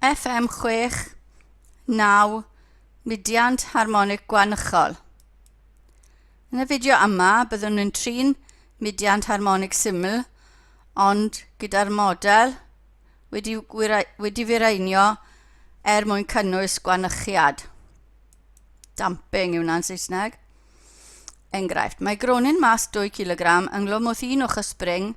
FM 69 Mudiant Harmonig Gwaunchol. Yn y fideo yma byddwn yn trin mudiant harmonig syml ond gyda'r model wedi, wedi firaenio er mwyn cynnwys gwanychiad. Damping yw wna'n Saesneg. Enghraifft, mae gronyn mas 2 kg ynghlwm wrth un ochr spring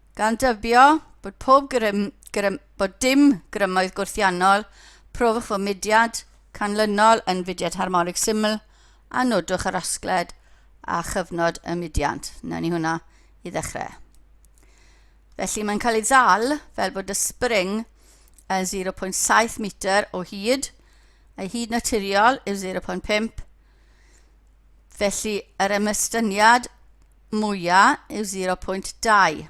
gan dybio bod pob grym, grym, bod dim grymoedd gwrthiannol, profwch fy mudiad canlynol yn fudiad harmonig syml a nodwch yr asgled a chyfnod y mudiant. Wna ni hwnna i ddechrau. Felly mae'n cael ei ddal fel bod y spring yn 0.7 metr o hyd, ei hyd naturiol yw 0.5, felly yr ymystyniad mwyaf yw 0.2.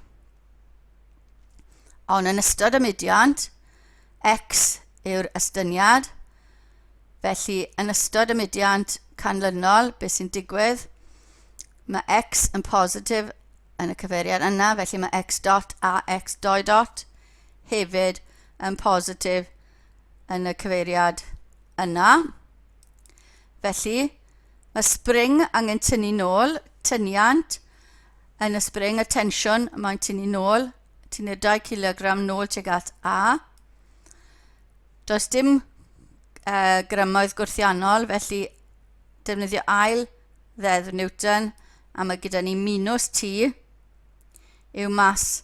Ond yn ystod y mudiant, x yw'r estyniad, felly yn ystod y mudiant canlynol, beth sy'n digwydd? Mae x yn positif yn y cyfeiriad yna, felly mae x dot a x doi dot hefyd yn positif yn y cyfeiriad yna. Felly, mae spring angen tynnu nôl, tyniant, yn y spring, y tensiwn, mae'n tynnu nôl, tynnu'r 2 kilogram nôl tuag at A. Does dim uh, grymoedd gwrthiannol, felly defnyddio ail ddeddf Newton, a mae gyda ni minus T yw mas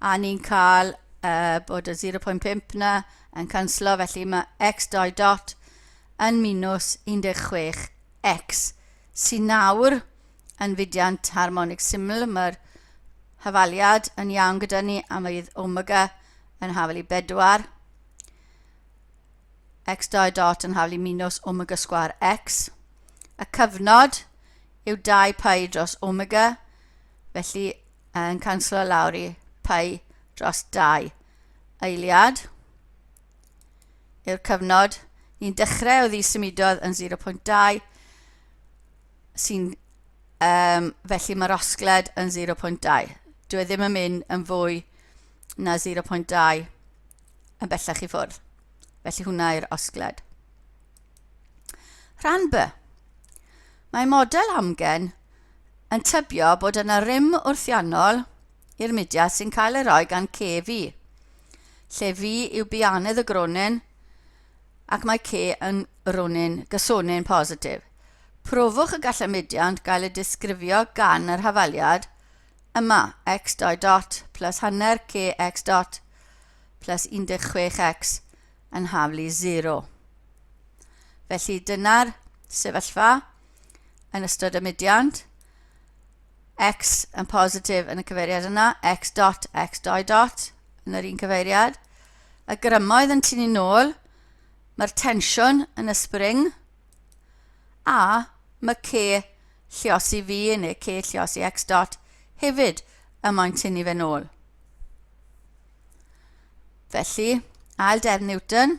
a ni'n cael uh, bod y 0.5 na yn canslo, felly mae x doi dot yn minus 16 x sy'n nawr yn fudiant harmonig syml. Mae'r hafaliad yn iawn gyda ni a mae fydd omega yn hafel i bedwar. x doi dot yn hafel i minus omega sgwar x. Y cyfnod yw 2 pi dros omega, felly Yn canslo lawr i pau dros dau eiliad yw'r cyfnod. Ni'n dechrau o ddi symudodd yn 0.2 sy'n um, felly mae'r osgled yn 0.2. Dwi e ddim yn mynd yn fwy na 0.2 yn bellach i ffwrdd. Felly hwnna yw'r osgled. Rhan B. Mae model amgen yn tybio bod yna rym wrthiannol i'r mudiad sy'n cael ei roi gan ce fi. Lle fi yw bianedd y gronyn ac mae ce yn ronyn gysonyn positif. Profwch y gallai mudiant gael ei disgrifio gan yr hafaliad yma x dot dot plus hanner ce x dot plus 16x yn haflu 0. Felly dyna'r sefyllfa. yn ystod y mudiant, x yn positif yn y cyfeiriad yna, x dot, x doi dot yn yr un cyfeiriad. Y grymoedd yn tynnu nôl, mae'r tensiwn yn y spring, a mae c lliosi fi neu c lliosi x dot hefyd y mae'n tynnu fe nôl. Felly, ail defn Newton,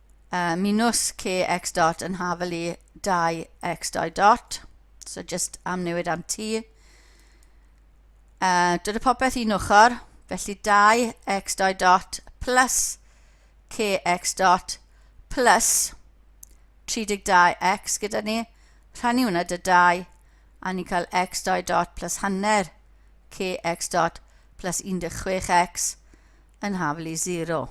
uh, minus k x dot yn hafel i 2 x dau dot. So just am newid am t. Uh, dod y popeth un ochr, felly 2 x dau dot plus k x dot plus 32x gyda ni. Rhannu hwnna dy 2 a ni'n cael x dau dot plus hanner k x dot plus 16x yn hafel i 0.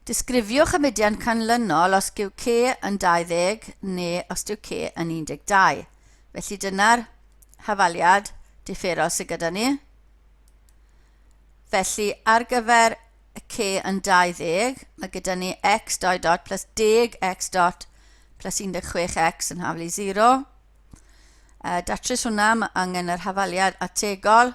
Disgrifiwch y mudiad canlynol os yw C yn 20 neu os yw C yn 12. Felly dyna'r hafaliad differol sydd gyda ni. Felly ar gyfer y C yn 20, mae gyda ni x 2 dot plus deg x dot plus 16x yn haflu 0. Uh, datrys hwnna, mae angen yr hafaliad ategol.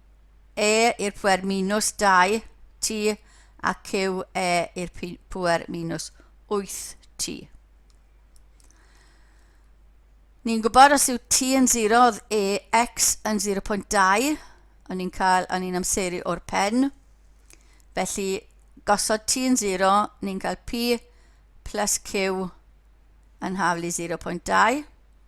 E i'r pŵer minus 2t a cyw e i'r pŵer minus 8t. Ni'n gwybod os yw t yn 0 oedd e x yn 0.2, o'n ni'n cael, o'n ni'n amseru o'r pen. Felly, gosod t yn 0, ni'n cael p plus q yn haflu 0.2.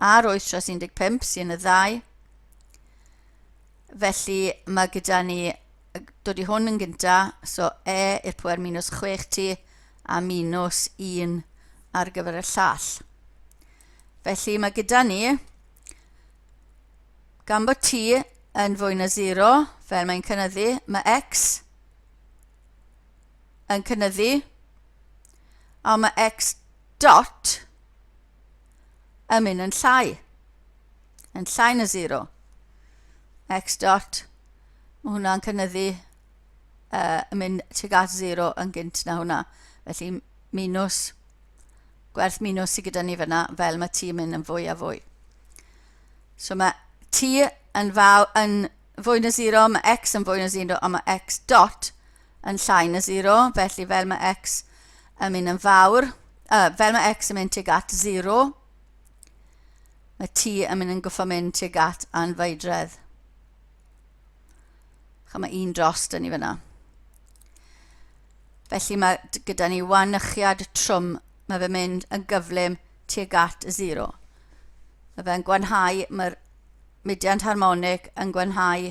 a'r oetres 15 sy'n y ddau. Felly mae gyda ni, dod i hwn yn gynta, so e i'r pwer minus 6 ti a minus 1 ar gyfer y llall. Felly mae gyda ni, gan bod ti yn fwy na 0, fel mae'n cynnyddu, mae x yn cynnyddu, a mae x dot yn mynd yn llai, yn llai na 0. X dot, mae hwnna'n cynyddu uh, yn mynd tuag at 0 yn gynt na hwnna. Felly minus, gwerth minus sydd gyda ni fyna, fel mae t yn mynd yn fwy a fwy. So mae t yn, faw, yn fwy na 0, mae x yn fwy na 0, a mae x dot yn llai na 0, felly fel mae x yn mynd yn fawr, uh, fel mae x yn mynd tuag at 0, mae t yn mynd yn goffo mynd tuag at anfeidredd. Chym mae un dros dyn ni fyna. Felly mae gyda ni wanychiad trwm, mae fe mynd yn gyflym tuag at 0. Mae fe'n gwanhau, mae'r mudiant harmonig yn gwanhau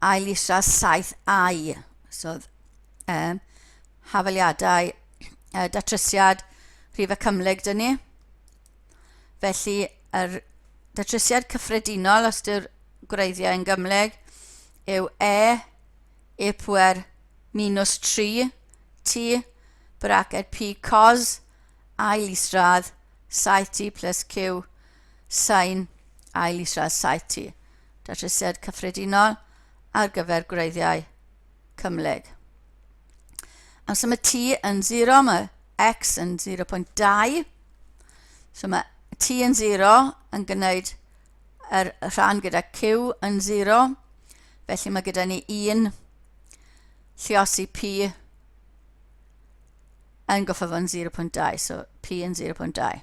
ail isaf 7au, sodd um, hafaliadau uh, datrysiad rhif y cymhlyg dyn ni. Felly, yr datrysiad cyffredinol, os yw'r gwreiddiau yn gymhlyg, yw e, e pwer minus 3, t, braced p cos, ail isradd, 7t plus q, Sain, Ail Israel Saiti, Datrysiad Cyffredinol ar gyfer gwreiddiau cymhlyg. Amser mae T yn 0, mae X yn 0.2. So mae T yn 0 yn gwneud yr rhan gyda Q yn 0. Felly mae gyda ni 1 lliosi P yn goffa fo'n 0.2, so P yn 0.2.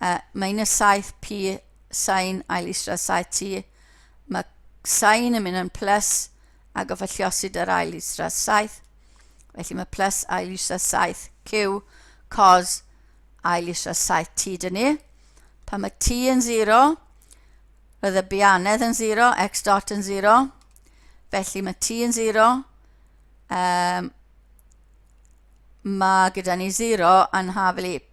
Uh, mae un y saith pi sain ail isra saith ti. Mae sain yn mynd yn plus ac o falliosid yr ail isra saith. Felly mae plus ail isra saith cyw cos ail isra saith ti dyn ni. Pan mae t yn 0, roedd y bianedd yn 0, x dot yn 0. Felly mae t yn 0, um, mae gyda ni 0 yn haflu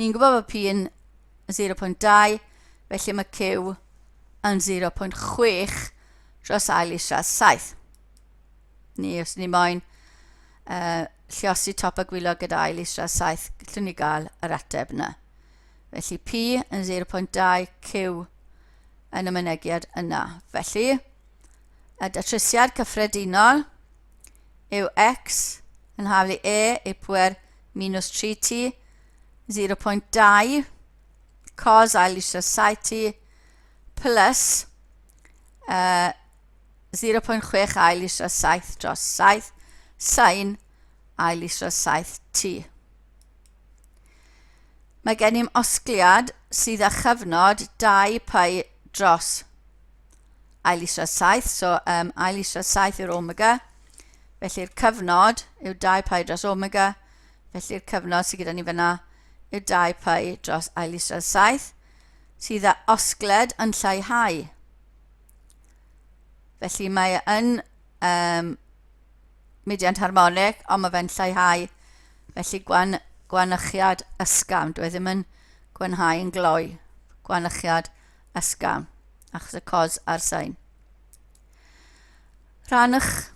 Ni'n gwybod bod P yn 0.2, felly mae Q yn 0.6 dros ail isradd 7. Ni, os ni moyn uh, lliosi top a gwylio gyda ail isradd 7, gallwn ni gael yr ateb yna. Felly P yn 0.2, Q yn y mynegiad yna. Felly, y datrysiad cyffredinol yw x yn haflu e i pwer minus 3t 0.2 cos ail eisiau saith t plus uh, 0.6 ail eisiau saith dros saith sain ail eisiau saith t. Mae gen i'n osgliad sydd â chyfnod 2 pi dros ail israd saith, so um, ail israd saith yw'r omega, felly'r cyfnod yw 2 pi dros omega, felly'r cyfnod sydd gyda ni fyna yw 2 pi dros ail israd saith, sydd â osgled yn lleihau. Felly mae yn um, mediant harmonic, ond mae fe'n lleihau, felly gwan, gwanychiad ysgafn, dwi e ddim yn gwanhau yn gloi, gwanychiad ysgafn. ysgafn, achos y cos a'r sain. Rhannwch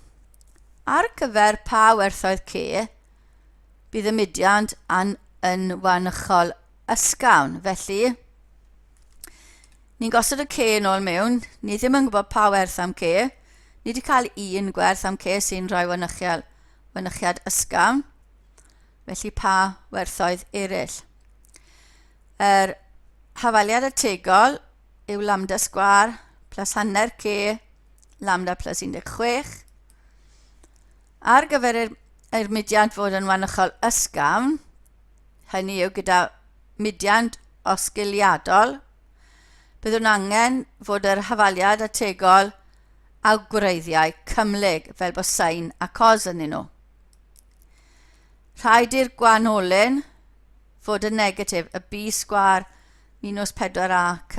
ar gyfer pa werthoedd C bydd y mudiant yn, yn wanychol ysgafn. Felly, ni'n gosod y C yn ôl mewn, ni ddim yn gwybod pa werth am C, ni wedi cael un gwerth am C sy'n rhoi wanychiad, wanychiad ysgafn, felly pa werthoedd eraill. Yr hafaliad ategol yw lambda sgwar plus hanner k lambda plus 16. Ar gyfer yr, yr mudiant fod yn wanychol ysgafn, hynny yw gyda mudiant osgiliadol, byddwn angen fod yr hafaliad ategol a gwreiddiau cymhlyg fel bod sain a cos yn nhw. Rhaid i'r gwanolyn fod yn negatif, y b sgwâr minus 4ac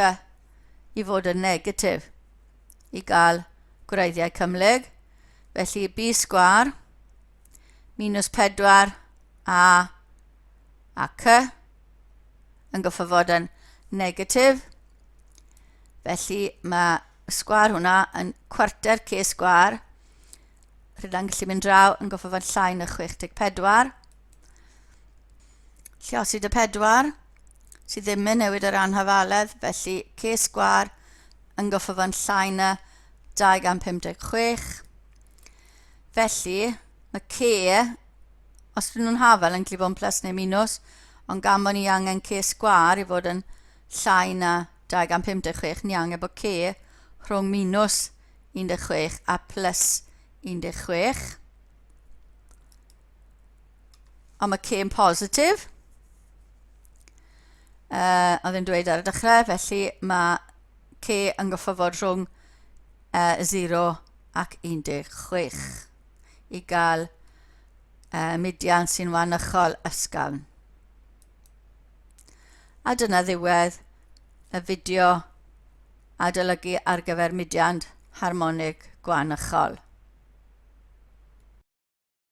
i fod yn negatif, i gael gwreiddiau cymhlyg. Felly b sgwâr minus 4a a c yn goffo fod yn negatif. Felly mae sgwar hwnna yn cwarter c sgwar. Rydyn ni'n gallu mynd draw yn goffo fod llai na 64. Llosid y pedwar sydd ddim yn newid yr anhafaledd, felly ces gwar yn goffyfan llai na 256. Felly, mae ce, os dyn nhw'n hafal yn glifon plus neu minus, ond gan bod ni angen ces gwar i fod yn llai na 256, ni angen bod ce rhwng minus 16 a plus 16. am y cêm positif. Uh, oedd yn dweud ar y dechrau, felly mae C yn gyffofod rhwng uh, 0 ac 16 i gael uh, mudian sy'n wanychol ysgafn. A dyna ddiwedd y fideo adolygu ar gyfer mudiant harmonig gwanychol.